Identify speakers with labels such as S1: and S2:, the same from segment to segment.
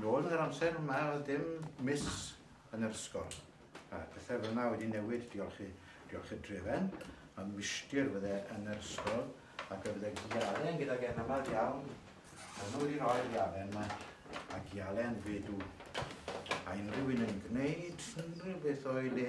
S1: Nôl yn yr amser yma oedd dim miss yn yr ysgol. A pethau fel yna wedi newid, diolch i, diolch i Drefen. Mae Mishtir fydde yn yr ysgol ac fe fydde Gialen gydag e'n aml iawn. Mae nhw wedi rhoi'r Gialen yma a Gialen fedw. A unrhyw un yn gwneud unrhyw beth o'i le.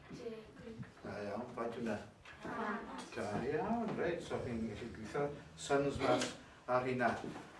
S1: Da iawn, faint yna? Da iawn, reit, so chi'n gallu gweithio sons mas ar hynna.